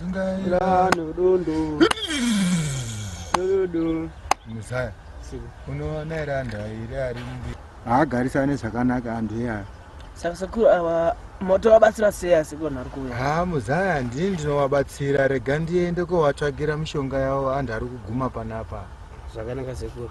Zungaira nodondo. Nododo. Muzaya. Siko. Unoona here anhu airi ari mbi. Haagarisane zvakanaka anhu iyaya. Saka sekuru ava motovabatsira sei asi kona ari kuuya? Ha muzaya ndini ndinovabatsira rega ndiende kovatsvagira mishonga yavo anhu ari kuguma panapa. Zvakanaka sekuru.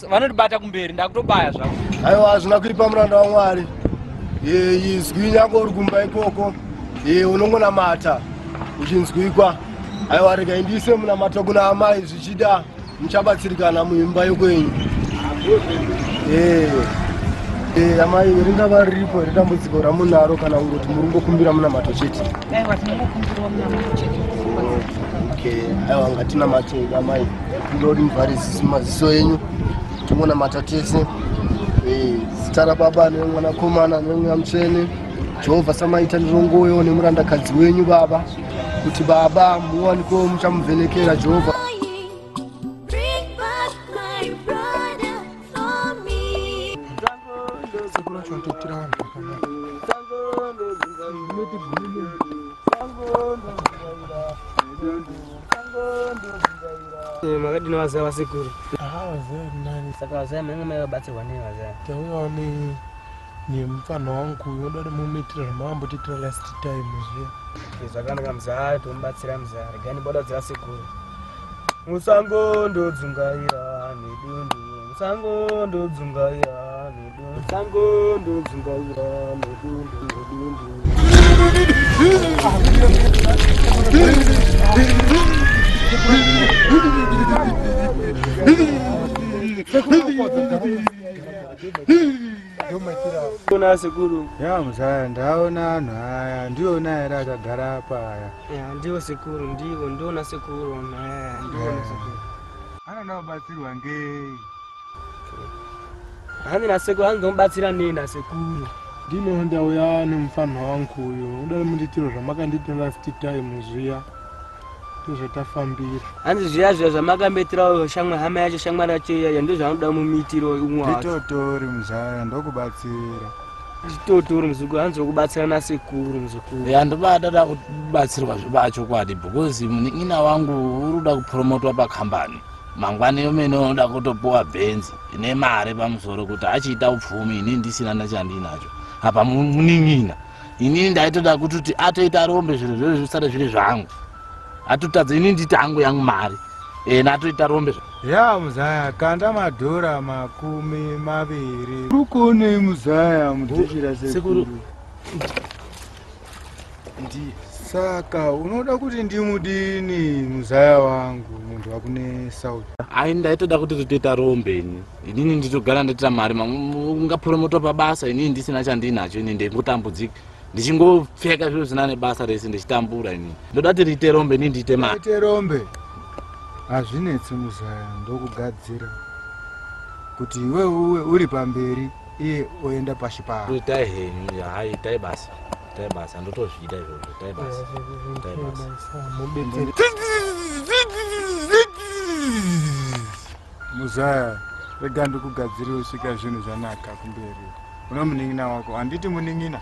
vanondibata kumberi ndakutobaya zvavo aiwa hazvina kuipa muranda wamwari izwi nyange uri kumba ikoko unongonamata uchinzwikwa aiwa rega indiise munamata kuna amai zvichida muchabatsirikana muimba yokwenyu amai ringava riripo ritambudziko ramunaro kana kungoti muri kungokumbira munamato chete aiwa ngatinamateamai kuda kuti muvhare maziso enyu tingonamata tese eh, zita rababa nemwanakomana nemweya mutsvene jehovha samaita ndirongoyo nemurandakadzi wenyu baba kuti baba muwanikewo muchamuvhenekera jehovha Eh, makadini vazaya vasekuru saka vazaya mainge mai vabatsirwa nei vazaya tauyawo nemupfanha wangu unoda kuti mumitira zvamambotiitira last time zviya eh, zvakanaka muzaya tomubatsira muzaya regani boda kudzira sekuru musango ndodzungaira nedundu musango ndodzungaira Sango ndodzungaira mudundu mudundu. Ona sekuru. Ya mzaya ndaona anhu aya ndiona here akagara apa aya. Ya ndiwo sekuru ndiwo ndiona sekuru. Ya ndiona sekuru. Ana nabatsirwa ngei? hanzi nasekuru hanzi ndomubatsira nei nasekuru ndino ndauya nemufanha wangu uyo udai mundiitiro zvamakandiita last time zviya ndozvatafambira hanzi zviya zviya zvamakambetirao shamwa hama yacho shamwa racho iyaya ndozvanoda mumiitiro umwetotori muzaya ndokubatsira chitotoro muzukuru hanzi wekubatsira nasekuru muzukuru ya ndobadada kubatsirwa zvebachokwadi because munin'ina wangu uri kuda kupromotwa pakambani Mangwani omene unoda kutopuwa benzi ine mari pamusoro kuti achiita upfumi ini ndisina nachandiinacho apa munin'ina inini ndaitoda kutoti atoita rombe zvinhu zvee zvisare zviri zvangu atotadza ini nditi angu yangu mari ena atoita rombe ya muzaya kanda madhora makumi maviri rukonei muzaya mudhishira sekuru ndi saka unoda kuti ndimudini muzaya wangu munhu wakune south ai ndaitoda kuti ritoita rombe ini inini nditogara ndatira mari ungapromoto pabasa inini ndisina chandinacho ini ndingotambudzika ndichingopfeka zviro zvina nebasa rese ndichitambura ini ndoda kuti riite rombe ini ndiite maite rombe hazvinetsi muzaya ndokugadzira kuti iwe uwe uri pamberi iye oenda pashi paa itai henyu haa itai basa itai basa handotozvida izvozvo itai basa itai basa muzaya rega ndikugadziri usvika zvinhu zvanaka kumberi una munin'ina wako handiti munin'ina